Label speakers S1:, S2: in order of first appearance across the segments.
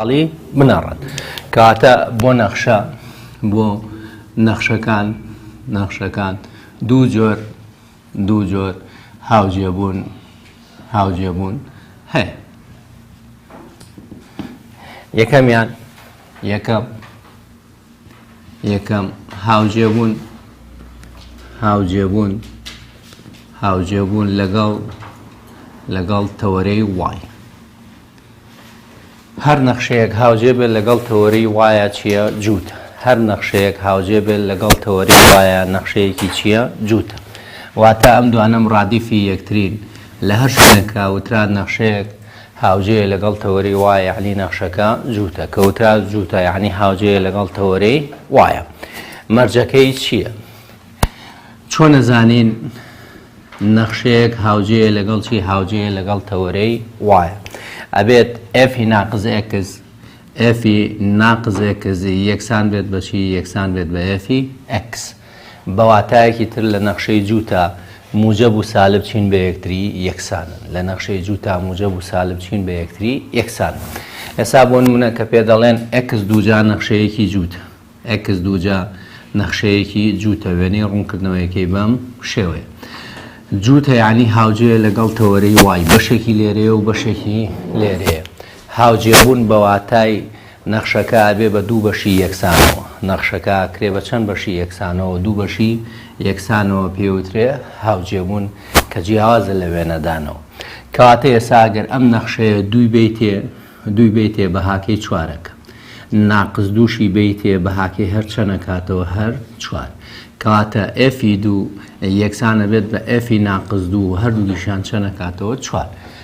S1: علی بنەڕەت کاتە بۆ نەخشە بۆ نەخشەکان نەخشەکان دوو جۆر دوو جۆر هاوجێبوون هاوجێبوون هەیە یەکەمیان یەکەم یەکەم هاوجێبوون هاوجێبوون هاوجێبوون لەگەڵ لەگەڵ تەوەرەی وای هەر نەخشەیەک هاوجێ بێت لەگەڵ تەوەری وایە چییە جووت هەر نەخشەیەک هاوجێ بێت لەگەڵ تەوەری وایە نەخشەیەکی چییە جووتە واتە ئەم دوانم ڕادیفی یەکترین لە هەر شوێنێکە وتران نەخشەیەک هاوجێیە لەگەڵ تەوەرەی وایە یەعنی نەخشەکە جووتە، کەوتە جووتە یەعنی هاوجێیە لەگەڵ تەوەرەی وایە. مەرجەکەی چییە؟ چۆن ئەزانین نەخشەیەک هاوجێیە لەگەڵ چی هاوجێیە لەگەڵ تەوەرەی وایە؟ ئەبێت ئێفی ناقز ئێکس ئێفی ناقز ئێکس یەکسان بێت بە چی یەکسان بێت بە ئێفی ئێکس. بە واتایەکی تر لە نەخشەی جووتە، موجەب و سالب چین بە یەکتری یەکسانن. لە نەخشەی جووتە، موجەب و سالب چین بە یەکتری یەکسانن. ئێسا بۆ نموونە کە پێ دەڵێن، ئێکس دووجا نەخشەیەکی جووتە. ئێکس دووجا نەخشەیەکی جووتە، وێنەی ڕوونکردنەوەیەکەی بەم شێوەیە. جووتە یانی هاوجێیە لەگەڵ تەوەرەی وای، بەشێکی لێرەیە و بەشێکی لێرەیە. هاوجێبوون بە واتای نەخشەکە ئەبێ بە دوو بەشی یەکسانەوە. نەخشەکە ئەکرێ بە چەند بەشی یەکسانەوە، دوو بەشی یەکسانەوە پێوترێ هاوجێبوون کە جیاوازە لە وێنەدانەوە. کەواتە ئێسا ئەگەر ئەم نەخشەیە دووی بەیتێ، دووی بەیتێ بە هاکەی چوارەک. ناقس دووشی بەیتێ بە هاکەی هەر چەند ئەکاتەوە؟ هەر چوار. کەواتە ئێفی دوو یەکسان ئەبێت بە ئێفی ناقس دوو و هەردووکیشیان چەند ئەکاتەوە؟ چوار.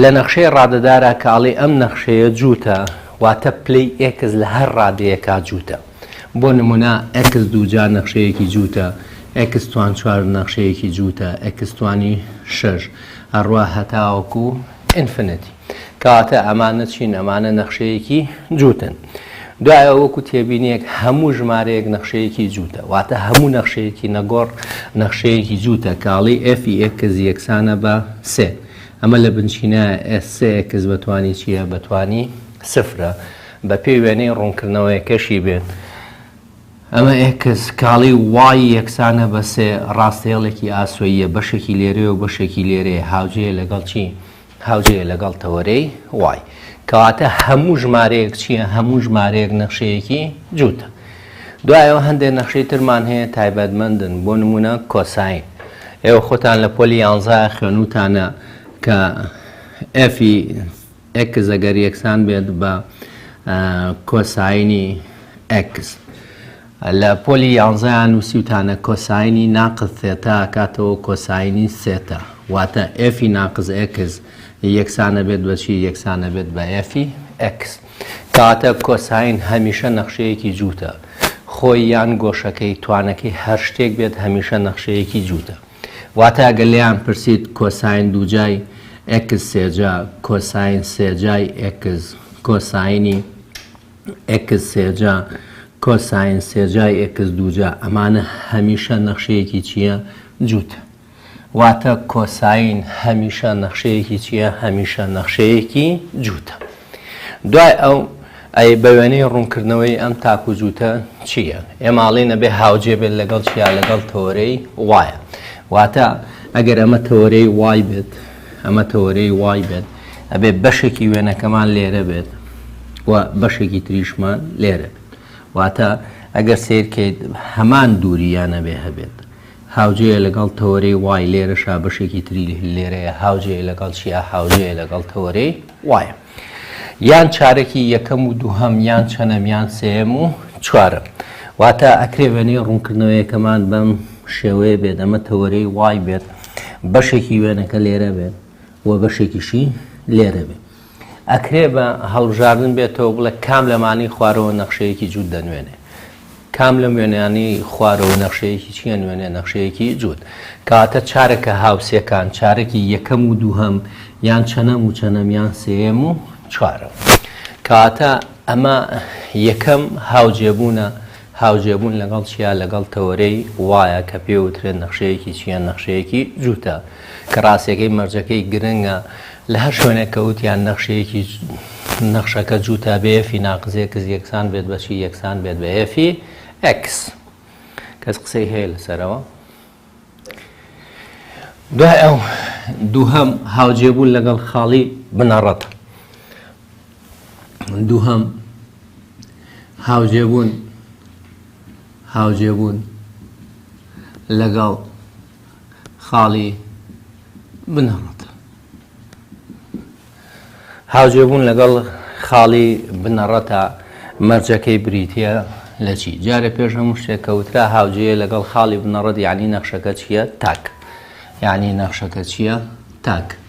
S1: لە نەخشەی ڕادەدارا کە ئەڵێی ئەم نەخشەیە جووتە واتە پلەی ئێکس لە هەر ڕادەیەکا جووتە. بۆ نموونە ئێکس دووجا نەخشەیەکی جووتە، ئێکس توان چوار نەخشەیەکی جووتە، ئێکس توانی شەش، ئەڕوا هەتاوەکوو ئینفنتی. کەواتە ئەمانە چین؟ ئەمانە نەخشەیەکی جووتن. دوایەوە وەکو تێبینیەک هەموو ژمارەیەک نەخشەیەکی جووتە، واتە هەموو نەخشەیەکی نەگۆڕ نەخشەیەکی جووتە کە ئەڵێی F ی ئێکس یەکسانە بە سێ، ئەمە لە بنچینایە S سێ ئێکس بە توانی چییە؟ بە توانی سفرە، بەپێی وێنەی ڕوونکردنەوەیەکەشی بێت ئەمە ئێکس کاڵی وای یەکسانە بە سێ، ڕاستهێڵێکی ئاسۆییە بەشێکی لێرەیە و بەشێکی لێرەیە هاوجێیە لەگەڵ چی؟ هاوجێیە لەگەڵ تەوەرەی وای. کەواتە هەموو ژمارەیەک چییە؟ هەموو ژمارەیەک نەخشەیەکی جووتە. دوایەوە هەندێک نەخشەی ترمان هەیە تایبەتمەندن بۆ نموونە کۆساین. ئێوە خۆتان لە پۆلی یانزە خوێنووتانە کە ئێفی ئێکس ئەگەر یەکسان بێت بە کۆساینی ئێکس. لە پۆلی یانزە یان نووسیوتانە کۆساینی ناقس سێتا ئەکاتەوە کۆساینی سێتا واتە ئێفی ناقس ئێکس یەکسانەبێت بە چی یەکسانەبێت بە ئێفی ئێکس کاتە کۆساین هەمیشە نەخشەیەکی جووتە خۆی یان گۆشەکەی توانەکەی هەر شتێک بێت هەمیشە نەخشەیەکی جووتە واتە گە لێیان پرسیت کۆساین دووجای ئێکس سێجا کۆساین سێجای ئێکس کۆساینی ئێکس سێجا کۆساین سێجای ئێکس دووجا ئەمانە هەمیشە نەخشەیەکی چییە جووتە واتە کۆساین هەمیشە نەخشەیەکی چییە هەمیشە نەخشەیەکی جووتە دوای ئەو ئەی بە وێنەی ڕوونکردنەوەی ئەم تاک و جووتە چییە ئێماڵی نەبێ هاوجێ بێت لەگەڵ چیا لەگەڵ تەوەرەی وایە واتە ئەگەر ئەمە تەوەرەی وای بێت ئەمە تەوەرەی وای بێت ئەبێ بەشێکی وێنەکەمان لێرە بێت و بەشێکی تریشمان لێرە بێت واتە ئەگەر سیرکەیت هەمان دووریانە بێ هەبێت هاوجەیە لەگەڵ تەوەرەی وای لێرەشا بەشێکی تری لێرەیە هاوجەیە لەگەڵ چیا هاوجەیە لەگەڵ تەوەرەی وایە یان چارەکی یەکەم و دووهەم یان چەنەم یان سێیەم و چوارەم واتە ئەکرێ وێنەی ڕوونکردنەوەیەکەمان بەم شێوەیە بێت ئەمە تەوەرەی وای بێت بەشێکی وێنەکە لێرە بێت و بەشێکیشی لێرە بێت ئەکرێ بە هەڵبژاردن بێتەوە بڵێ کام لەمانی خوارەوە نەخشەیەکی جووت دەنوێنێ کام لەم وێنەیانەی خوارەوە نەخشەیەکی چییە؟ نوێنێ نەخشەیەکی جووت کاتە چارەکە هاوسێکان، چارەکی یەکەم و دووهەم یان چەنەم و چەنەم یان سێیەم و چوارەم. کاتە ئەمە یەکەم هاوجێبوونە هاوجێبوون لەگەڵ چیا لەگەڵ تەوەرەی وایە کە پێوترێن نەخشەیەکی چییە نەخشەیەکی جووتە کە ڕاستەکەی مەرجەکەی گرنگە لە هەر شوێنێک کە وتیان نەخشەیەکی نەخشەکە جووتە بە ئێفی ناقس ئێکس یەکسان بێت بە چی یەکسان بێت بە ئێفی ئێکس کەس قسەی هەیە لەسەرەوە دوای ئەو دووهەم هاوجێبوون لەگەڵ خاڵی بنەڕەت دووهەم هاوجێبوون هاوجێبوون لەگەڵ خاڵی بنەڕەت. هاوجێبوون لەگەڵ خاڵی بنەڕەتە مەرجەکەی بریتییە لە چی؟ جارێ پێش هەموو شتێک کە وترا هاوجێیە لەگەڵ خاڵی بنەڕەت یعنی نەخشەکە چییە؟ تاک. یعنی نەخشەکە چییە؟ تاک.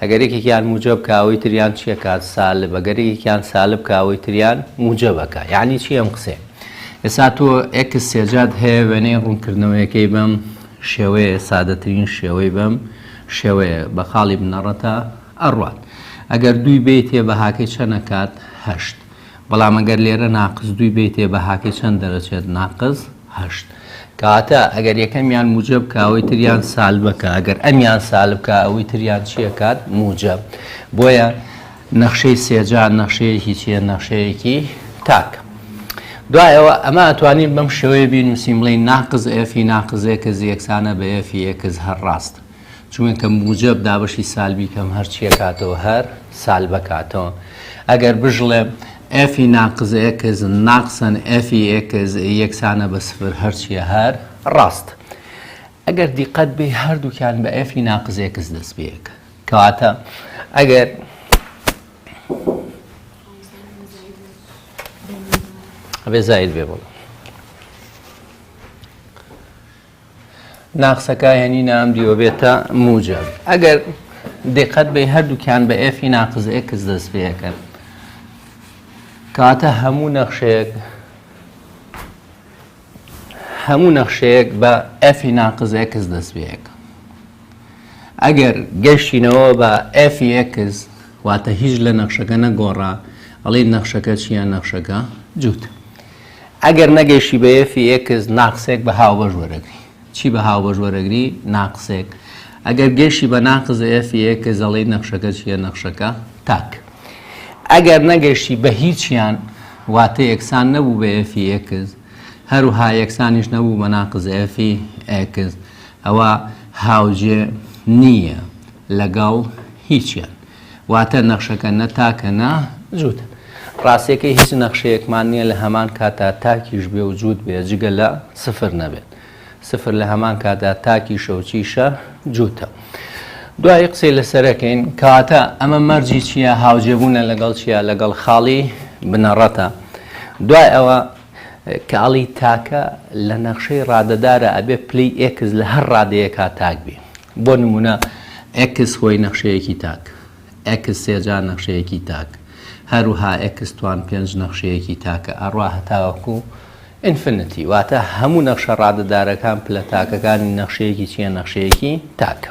S1: ئەگەر یەکێکیان موجەب کا ئەوەی تریان چیە کات سالب ئەگەر یەکێکیان سالب کا ئەوەی تریان موجەبەکە یعنی چی ئەم قسێ ئێستا تۆ ئێکس سێجات هەیە وێنەی ڕوونکردنەوەیەکەی بەم شێوەیە سادەترین شێوەی بەم شێوەیە بە خاڵی بنەڕەتە ئەڕوات ئەگەر دووی بێتێ بەهاکەی چەنە کات هەشت بەڵام ئەگەر لێرە ناقس دووی بەیتێ بەهاکەی چەند دەرەچێت ناقس هەشت کەواتە ئەگەر یەکەمیان موجەب کە ئەوەی تریان سالبە کە ئەگەر ئەمیان سالب کە ئەوەی تریان چیە کات موجەب بۆیە نەخشەی سێجا نەخشەیەکی چیە نەخشەیەکی تاک دوایەوە ئەمە ئەتوانین بەم شێوەیە بینوسین بڵین ناقز ئێفی ناقزێکز یەکسانە بە ئێفی ئێکز هەر ڕاست چونکە موجەب دابەشی سالبی کەم هەرچی ئەکاتەوە هەر سالب ئەکاتەوە ئەگەر بژڵێم ئێفی ناقز ئێکس ناقسەن ئێفی ئێکس یەکسانە بە سفر هەرچیە هەر ڕاست ئەگەر دیقەت بێ هەردووکیان بە ئێفی ناقز ئێکس دەست بەیەکە کەواتە ئەگەر ئەبێ زاید بێ بڵێ ناقسەکە هێنینە ئەم دیوە بێتە موجب ئەگەر دقت بێ هەردووکیان بە ئێفی ناقز ئێکس دەست پێەکەن کاتە هەموو نەخشەیەک هەموو نەخشەیەک بە ئەفی ناقز ئێکس دەست پێەکە ئەگەر گەشتینەوە بە ئەفی ئێکس واتە هیچ لە نەخشەکە نەگۆڕا ئەڵێ نەخشەکە چیان نەخشەکە جووت ئەگەر نەگەیشتی بە ئێفی ئێکس ناقسێک بە هاوبەش وەرەگری. چی بە هاوبەش وەرەگری؟ ناقسێک. ئەگەر گەیشتی بە ناقس ئێفی ئێکس ئەڵێی نەخشەکە چییە؟ نەخشەکە تاک. ئەگەر نەگەیشتی بە هیچیان واتە یەکسان نەبوو بە ئێفی ئێکس هەروها یەکسانیش نەبوو بە ناقس ئێفی ئێکس ئەوا هاوجێ نییە لەگەڵ هیچیان. واتە نەخشەکە نە تاکە نە جووتە. ڕاستییەکەی هیچ نەخشەیەکمان نییە لە هەمان کاتدا تاکیش بێ و جووت بێ جگە لە سفر نەبێت. سفر لە هەمان کاتدا تاکیشە و چیشە؟ جووتە. دوایی قسەی لەسەر ئەکەین. کەواتە ئەمە مەرجی چییە؟ هاوجێبوونە لەگەڵ چییە؟ لەگەڵ خاڵی بنەڕەتە. دوای ئەوە. کاڵی تاکە لە نەخشەی ڕادەدارا ئەبێ پلەی ئێکس لە هەر ڕادەیەکا تاک بی. بۆ نموونە ئێکس هۆی نەخشەیەکی تاک، ئێکس سێ جا نەخشەیەکی تاک، هەروەها ئێکس توان پێنج نەخشەیەکی تاکە ئەڕوا هەتاوەکو ئینفنتی. واتە هەموو نەخشە ڕادەدارەکان پلە تاکەکانی نەخشەیەکی چییە؟ نەخشەیەکی تاکە.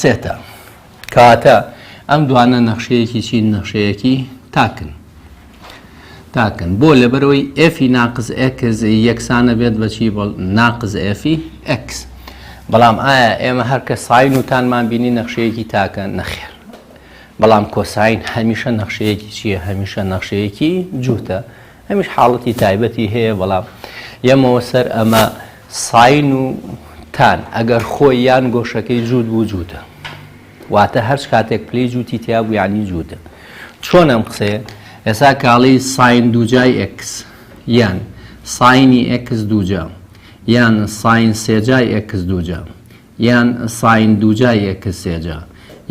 S1: سێتە. کەواتە ئەم دوانە نەخشەیەکی چین نەخشەیەکی تاکن. تاکن بۆ لەبەرەوەی ئێفی ناقز ئەکس یەکسانە بێت بەچی ناقز ئێفی ئەکس. بەڵام ئایا ئێمە هەرکە ساین وتانمان بینی نەخشەیەکی تاکە نەخێر بەڵام کۆساین هەمیشە نەخشەیەکی چییە هەمیشە نەخشەیەکی جووتە ئەمیش حاڵەتی تایبەتی هەیە بەڵام یەمەوە سەر ئەمە ساین و تان ئەگەر خۆی یان گۆشەکەی جووت بوو جووتە واتە هەرچ کاتێک پلی جووتی تیا بوو یانی جووتە چۆن ئەم قسەیە ئێسا کاڵی ساین دووجای ئکس یان ساینی ئکس دووجا یان ساین سێجای ئکس دووجا یان سایندوجای ئێکسێجا،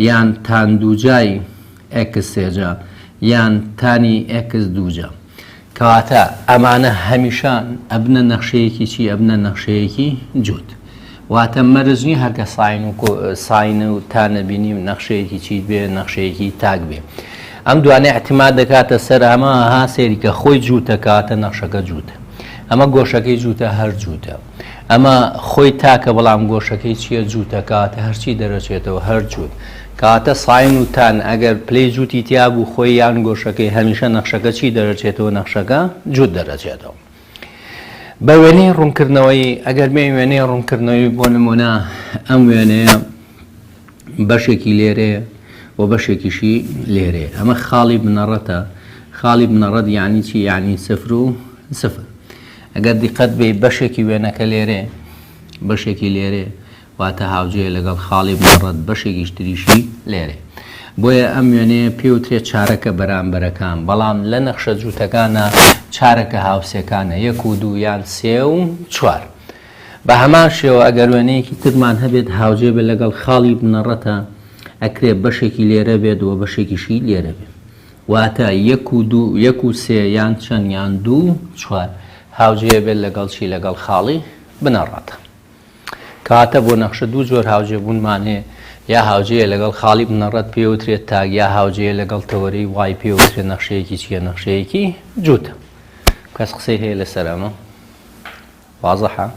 S1: یان تاندوجای ئێکسێجا، یان تانی ئێکس دوجا. کەواتە ئەمانە هەمیشە ئەبنە نەخشەیەکی چی؟ ئەبنە نەخشەیەکی جووت. واتە مەرج نییە هەر کە ساین و ساین و تانە بینیم نەخشەیەکی چیت بێ، نەخشەیەکی تاک بێ. ئەم دوانە ئیعتیماد دەکاتە سەر ئەمە، ها سەیری کە خۆی جووتە کەواتە نەخشەکە جووتە. ئەمە گۆشەکەی جووتە هەر جووتە. ئەمە خۆی تاکە بەڵام گۆشەکەی چیە جووتە کاتە هەرچی دەرەچێتەوە هەر جووت کاتە ساین و تان ئەگەر پلەی جووتی تیا بوو خۆی یان گۆشەکەی هەمیشە نەخشەکە چی دەرەچێتەوە نەخشەکە جووت دەرەچێتەوە بە وێنەی ڕوونکردنەوەی ئەگەر بێ وێنەی ڕوونکردنەوەی بۆ نمونە ئەم وێنەیە بەشێکی لێرێ و بەشێکیشی لێرێ ئەمە خاڵی بنەڕەتە خاڵی بنەڕەت یعنی چی یعنی سفر و سفر ئەگەر دیقەت بێی بەشێکی وێنەکە لێرەیە بەشێکی لێرەیە واتە هاوجێ لەگەڵ خاڵی مەڕەت بەشێکیش تریشی لێرێ بۆیە ئەم وێنەیە پێوترێت چارەکە بەرامبەرەکان بەڵام لە نەخشە جووتەکانە چارەکە هاوسێکانە یەک و دوو یان سێ و چوار بە هەمان شێوە ئەگەر وێنەیەکی ترمان هەبێت هاوجێ بێت لەگەڵ خاڵی بنەڕەتە ئەکرێ بەشێکی لێرە بێت و بەشێکیشی لێرە بێت واتە، یەک و دوو، یەک و سێ، یان چەند، یان دوو و چوار، هاوجێ بێت لەگەڵ چی؟ لەگەڵ خاڵی بنەڕەتە. کەواتە بۆ نەخشە دوو جۆر هاوجێبوونمان هەیە، یا هاوجێیە لەگەڵ خاڵی بنەڕەت پێوترێت تاگ، یا هاوجێیە لەگەڵ تەوەرەی وای پێوترێت نەخشەیەکی چییە؟ نەخشەیەکی جووتە. کەس قسەی هەیە لەسەر ئەمە؟ وازحە؟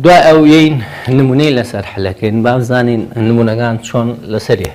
S1: دوای ئەو یین نمونەی لەسەر حلەکەین بابزانین نمونەکان چۆن لەسەریە.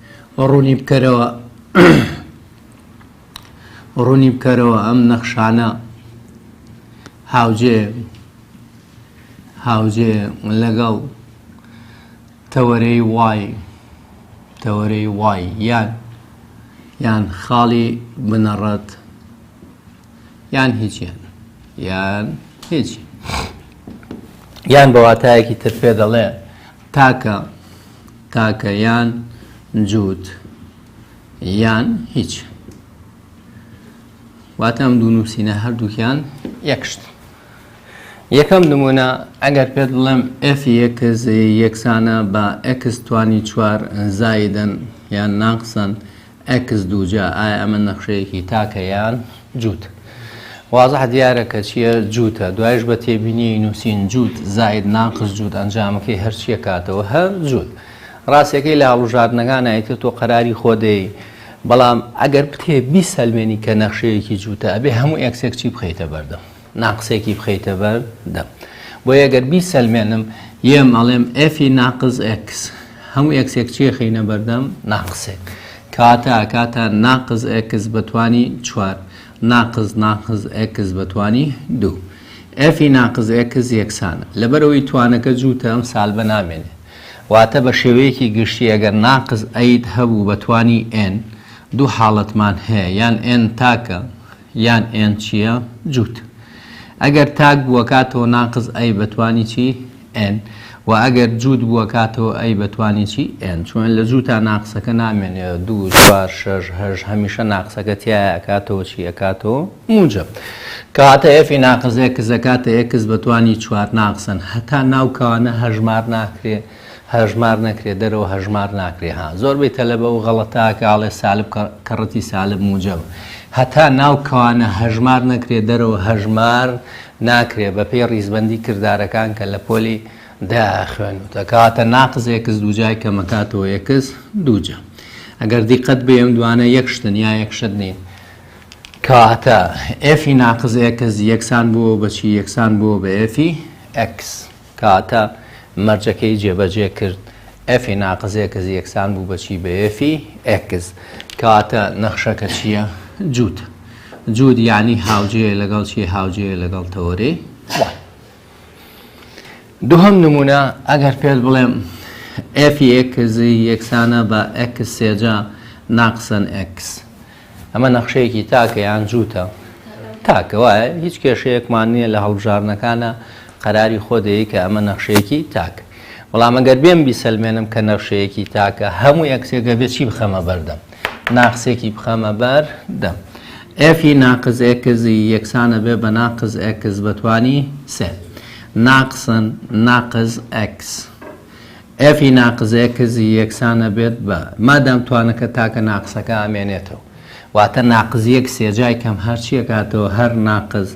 S1: ڕوونی بکەرەوە ڕوونی بکەرەوە ئەم نەخشانە هاوجێ هاوجێ لەگەڵ تەوەرەی وای تەوەرەی وای یان یان خاڵی بنەڕەت یان هیچیان یان هیچ یان بەواتایەکی تر پێ دەڵێ تاکە تاکە یان جووت یان هیچ. واتە ئەم دوو نووسینە هەردووکیان یەک شت. یەکەم نمونە ئەگەر پێت بڵێم FX یەکسانە بە X توانی چوار زایدن یان ناقسن ئەکس دووجا ئایا ئەمە نەخشەیەکی تاکە یان جووت؟ وازح دیارە کە چییە جووتە دوایش بە تێبینی نووسین جووت زاید ناقص جووت ئەنجامەکەی هەرچیە کاتەوە هە جووت ڕاستەکەی لە هەڵوژاردنەکان ئایتر تۆ قەراری خۆدەی بەڵام ئەگەر بتێ بیسەلمێنی کە نەخشەیەکی جووتە ئەبێ هەموو ئێکسێک چی بخەیتە بەردەم ناقسێکی بخەیتە بەر دەم بۆیە گەر بیسەلمێنم یەم ئەڵێم ئێفی ناقز ئێکس هەموو ئێکسێک چیە خینە بەردەم ناقسێک کاتە کاتە ناقز ئێکس بەتوانی چوار ناقز ناقز ئێکس بەتوانی دوو ئێفی ناقز ئێکس یەکسانە لەبەرەوەی توانەکە جووتە ئەم سال بە نامێنێ واتە بە شێوەیەکی گشتی ئەگەر ناقز ئەید هەبوو بەتوانی ئێن دوو حاڵەتمان هەیە یان ئێن تاکە یان ئێن چیە جووت ئەگەر تاک بووەکاتەوە ناقس ئەی بەتوانی چی ئێن وە ئەگەر جووت بووەکاتەوە ئەی بەتوانی چی ئێن چوون لە جووتا ناقسەکە نامێنێ دوو چوار شەش هەشت هەمیشە ناقسەکە تایە ئەکاتەوە چی ئەکاتەوە موجەب کەواتە ئێفی ناقس ئێکس ئەکاتە ئێکس بەتوانی چوار ناقسن هەتا ناو کەوانە هەژمار ناکرێ هەژمار نەکرێ دەرەوە هەژمار ناکرێ ها زۆربەی تەلەبە و غەڵەتاکە ئەڵێ سالب کەڕەتی سالب موجەب هەتا ناو کەوانە هەژمار نەکرێ دەرەوە هەژمار ناکرێ بەپێی ڕیزبەندی کردارەکان کە لە پۆلی دا خوێنوتە کەواتە ناقز ئێکس دووجای کەمەکاتەوە ئێکس دووجە ئەگەر دیقەت بێم دوانە یەک شتن یا یەک شت نین کەواتە ئێفی ناقز ئێکس یەکسان بووە بەچی یەکسان بووە بە ئێفی ئەکس کاتە مەرجەکەی جێبەجێ کرد، ئێفی ناقس ئێکس یەکسان بوو بە چی؟ بە ئێفی ئێکس. کاتە نەخشەکە چییە؟ جووت. جووت یانی هاوجێیە لەگەڵ چی؟ هاوجێیە لەگەڵ تەوەرەی وان. دووهەم نموونە، ئەگەر پێت بڵێم ئێفی ئێکس یەکسانە بە ئێکس سێجا ناقسەن ئێکس. ئەمە نەخشەیەکی تاکە یان جووتە؟ تاکە وایە هیچ کێشەیەکمان نییە لە هەڵبژاردنەکانا قەراری خۆ دەیەی کە ئەمە نەخشەیەکی تاکە بەڵام ئەگەر بێم بیسەلمێنم کە نەخشەیەکی تاکە هەموو یەکسێکە بێ چی بخەمە بەردەم ناقسێکی بخەمە بەر دەم ئەفی ناقز ئێکزی یەکسانە بێ بە ناقز ئێکز بەتوانی سێ ناقسن ناقز ئەکس ئێف ی ناقزێ کزی یەکسان ئەبێت بە مادام توانەکە تاکە ناقسەکە ئەمێنێتەوە واتە ناقز یەک سێ جای کەم هەرچی ئەکاتەوە هەر ناقز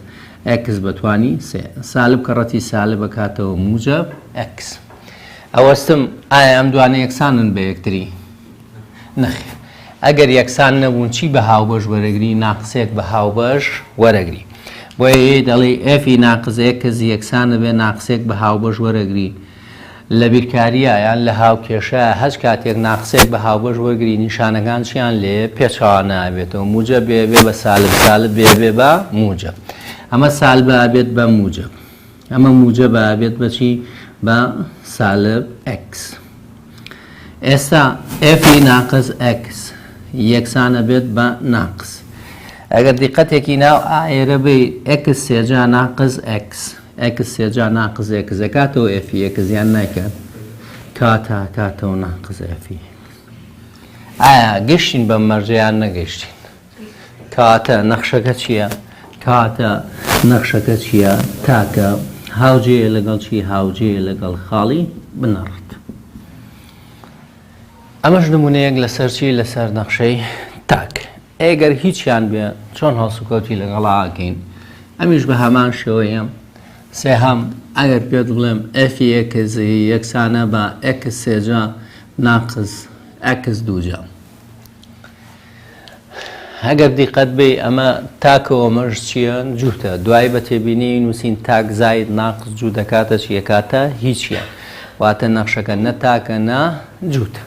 S1: ئێکس بە توانی سێ سالب کە ڕەتی سالب ئەکاتەوە موجەب ئێکس ئەوەستم ئایا ئەم دوانە یەکسانن بە یەکتری نەخێر ئەگەر یەکسان نەبوون چی بە هاوبەش وەرەگری ناقسێک بە هاوبەش وەرەگری بۆیە یەی دەڵێی ئێف ی ناقز ئێکس یەکسان ئەبێ ناقسێک بە هاوبەش وەرەگری لە بیرکارییە یان لە هاوکێشەیە، هەچ کاتێک ناقسێک بە هاوبەش وەرگری نیشانەکان چیان لێ پێچەوا نابێتەوە، موجەب بێ بێ بە سالب، سالب بێ بێ بە موجەب. ئەمە سالبە ئەبێت بە موجەب. ئەمە موجەبە ئەبێت بە چی؟ بە سالب ئێکس. ئێستا ئێفی ناقس ئێکس یەکسان ئەبێت بە ناقس. ئەگەر دیقەتێکی ناو ئایرە بی ئێکس سێجا ناقس ئێکس. ئێکس سێجا ناقس ئێکس ئەکاتەوە ئێفی ئێکس یان نایکات کات ئەکاتەوە ناقس ئێفی ئێکس ئایا گەشتین بەم مەرجە یان نەگەشتین کاتە نەخشەکە چییە کاتە نەخشەکە چییە تاکە هاوجێ لەگەڵ چی هاوجێ لەگەڵ خاڵی بنەڕت ئەمەش نمونەیەک لەسەر چی لەسەر نەخشەی تاک ئەی گەر هیچیان بێ چۆن هەڵسوکەوتی لەگەڵا ئەکەین؟ ئەمیش بە هەمان شێوەیە. سێهەم، ئەگەر پێت بڵێم ئێفی ئێکس یەکسانە بە ئێکس سێجا ناقس ئێکس دووجا. ئەگەر دیقەت بەی ئەمە تاک و ئەمەش چییە؟ جووتە. دوایی بە تێبینیی نووسین تاک زائید ناقس جوو دەکاتە چی؟ ئەکاتە هیچیان. واتە نەخشەکە نە تاکە نە جووتە.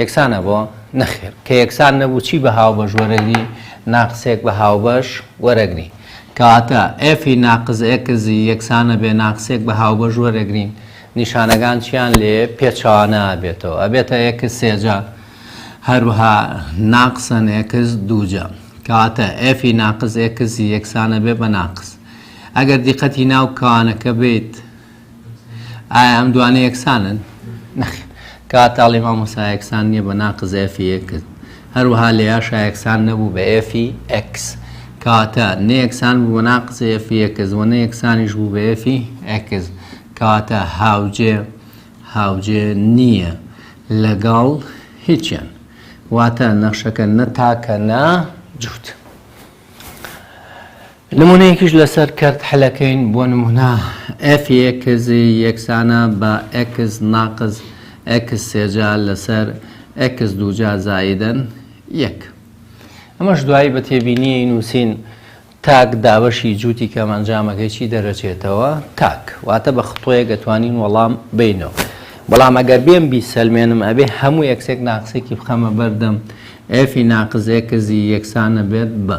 S1: یەکسانە بۆ؟ نەخێر، کە یەکسان نەبوو چی بە هاوبەش وەرەگری؟ ناقسێک بە هاوبەش وەرەگری. کەواتە ئێفی ناقس ئێکسی یەکسانە بێ ناقسێک بە هاوبەش وەرەگرین. نیشانەکان چیان لێ پێچەوانە ئەبێتەوە؟ ئەبێتە ئێکس سێجا، هەروەها ناقسەن ئێکس دووجا. کەواتە ئێفی ناقس ئێکسی یەکسانە بێ بە ناقس. ئەگەر دیقەتی ناو کەوانەکە بێیت، ئایا ئەم دوانە یەکسانن؟ نەخێر. کاتاڵی مامۆسا یەکسان نییە بە ناقز ئێفی ئێکس. هەروەها لێیاشا یەکسان نەبوو بە ئێفی ئێکس. کاتە نە یەکسان بوو بە ناقز ئێفی ئێکس و نە یەکسانیش بوو بە ئێفی ئێکس. کاتە هاوجێ هاوجێ نییە لەگەڵ هیچیان. واتە نەخشەکە نە تاکە نە جووت. نمونەیەکیش لەسەر کەرت حلەکەین بۆ نمونە fx یەکسانە بە x ناقس x سێجا لەسەر x دووجا زائیدەن یەک ئەمەش دوایی بە تێبینیی نووسین تاک دابەشی جووتی کەم ئەنجامەکەی چی دەرەچێتەوە تاک واتە بە خطۆیە گەتوانین وەڵام بینەوە بەڵام ئەگەر بێم بی سەلمێنم ئەبێ هەموو یەکسێک ناقسێکی بخەمە بەردەم ئەفی ناقزێکزی یەکسانە بێت بە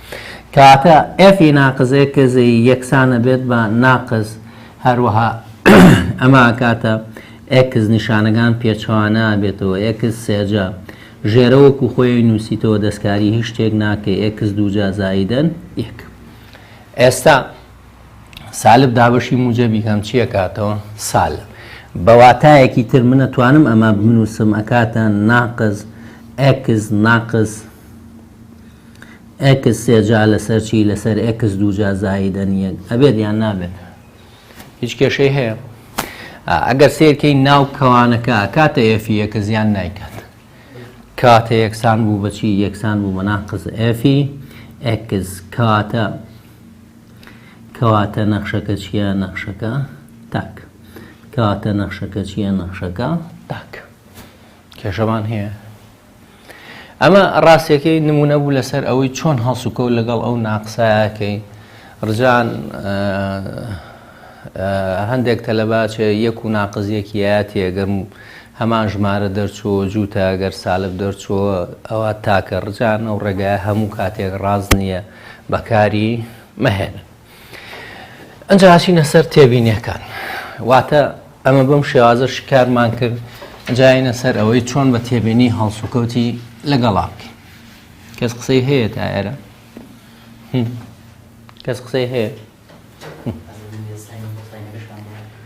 S1: کاتە F ی ناقس X ی یەکسان ئەبێت بە ناقس هەروەها ئەمە ئەکاتە X نیشانەکان پێچەوانە ئەبێتەوە X سێجا ژێرە وەکو خۆی نووسیتەوە دەستکاری هیچ شتێک ناکەی X دووجا زایدەن یەک ئێستا سالب دابەشی موجەبی کەم چییە کاتەوە سالب بە واتایەکی تر منە توانم ئەمە بنووسم ئەکاتە ناقز ئەکس ناقز ئێکس سێجا لەسەر چی لەسەر ئێکس دووجا زایدەن یەک ئەبێت یان نابێت هیچ کێشەی هەیە ئەگەر سێرکەی ناو کەوانەکە کاتە ئێفی یەکە زیان نایکات کاتە یەکسان بوو بەچی یەکسان بوو بەناقز ئێفی ئێکس کاتە کەواتە نەخشەکە چییە نەخشەکە تاک کەواتە نەخشەکە چییە نەخشەکە تاک کێشەمان هەیە ئەمە ڕاستیەکەی نمونە بوو لەسەر ئەوەی چۆن هەڵسوکەوت لەگەڵ ئەو ناقسایەکەی ڕجان هەندێک تەلەباچێ یەک و ناقزیەکیەتە گەر هەمان ژمارە دەرچووە جووتە گەر سالب دەرچووە ئەوە تاکە ڕجان ئەو ڕێگای هەموو کاتێک ڕاز نییە بەکاری مەهێنن. ئەنجا ئەچینە سەر تێبینیەکان واتە ئەمە بەم شێوازە شکارمان کرد جاینە سەر ئەوەی چۆن بە تێبینی هەڵسوکەوتی لەگەڵا بکەین کەس قسەی هەیە تا ئێرە کەس قسەی هەیە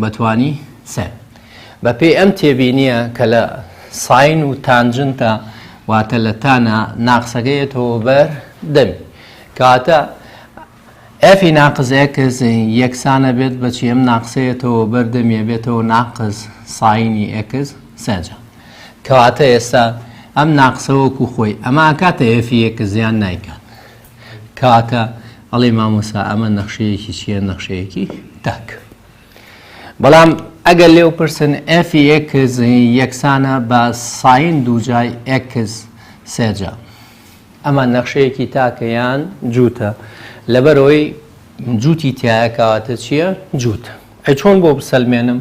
S1: بەتوانی سێن. بە پێی ئەم تێبینییە کە لە ساین و تانجنتە واتە لە تانە ناقسەکە یەتەوە بەر دەمی کەواتە ئێفی ناقز ئێکس یەکسانە بێت بەچی ئەم ناقسەیەتەوە بەر دەمیە بێتەوە ناقز ساینی ئێکس سێجە کەواتە ئێستا ئەم ناقسەوەکو خۆی ئەمە کاتە ئێفی یەکە زیان نایکات کاکە ئەڵێی مامۆستا ئەمە نەخشەیەکی چیە نەخشەیەکی تاک بەڵام ئەگەر لێو پرسن ئەفی ئێکس یەکسانە بە ساین دووجای ئێکس سێجا ئەمە نەخشەیەکی تاکەیان جووتە لەبەرەوەی جووتی تایە کەواتە چییە جووتە ئەی چۆن بۆ بسەلمێنم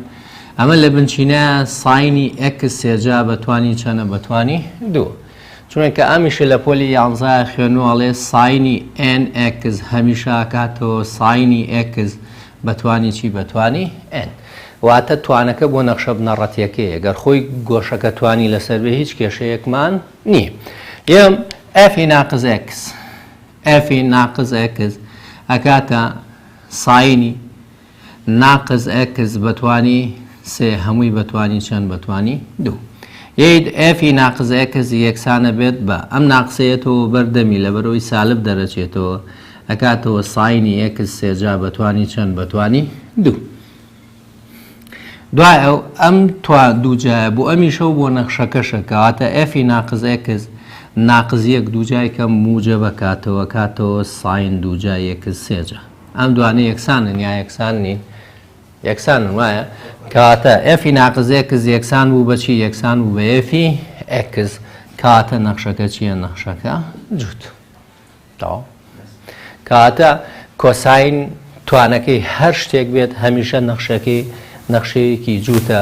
S1: ئەمە لە بنچینە ساینی ئێکس سێ جا بە توانی چەنە بە توانی دوو چونکە ئەمیشە لە پۆلی یانزە خوێنو ئەڵێ ساینی ئێن ئێکس هەمیشە ئەکاتەوە ساینی ئێکس بە توانی چی بە توانی ئێن واتە توانەکە بۆ نەخشە بنەڕەتیەکەیە گەر خۆی گۆشەکە توانی لەسەر بێ هیچ کێشەیەکمان نییە یەم ئەفی ناقز ئێکس ئەفی ناقز ئێکس ئەکاتە ساینی ناقس ئێکس بە توانی سێ هەمووی بە توانی چەند بە توانی دوو. یەیت ئێفی ناقس ئێکس یەکسانە بێت بە ئەم ناقسەیەتەوە بەر دەمی لەبەرەوەی سالب دەرەچێتەوە ئەکاتەوە ساینی ئێکس سێ جا بە توانی چەند بە توانی دوو. دوای ئەو ئەم توا دوو جایە بۆ ئەمیشەو بۆ نەخشەکەشە کەواتە ئێفی ناقس ئێکس ناقس یەک دوو جای کەم موجە بەکاتەوە کاتەوە ساین دوو جا یەکس سێ جا. ئەم دوانە یەکسانن یا یەکسان نین؟ یەکسانن وایە؟ کەواتە ئێفی ناقز ئێکس یەکسان بوو بەچی یەکسان بوو بە ئێفی ئێکس کاتە نەخشەکە چییە نەخشەکە جووت تەواو کاتە کۆساین توانەکەی هەر شتێک بێت هەمیشە نەخشەکەی نەخشەیەکی جووتە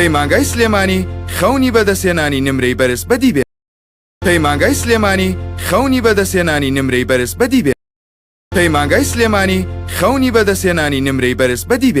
S2: پەیمانگای سلێمانی خەونی بەدەستهێنانی نمرەی بەرز بەدی بێ پەیمانگای سلێمانی خەونی بەدەستهێنانی نمرەی بەرز بەدی بێ پەیمانگای سلێمانی خەونی بەدەستهێنانی نمرەی بەرز بەدی بێ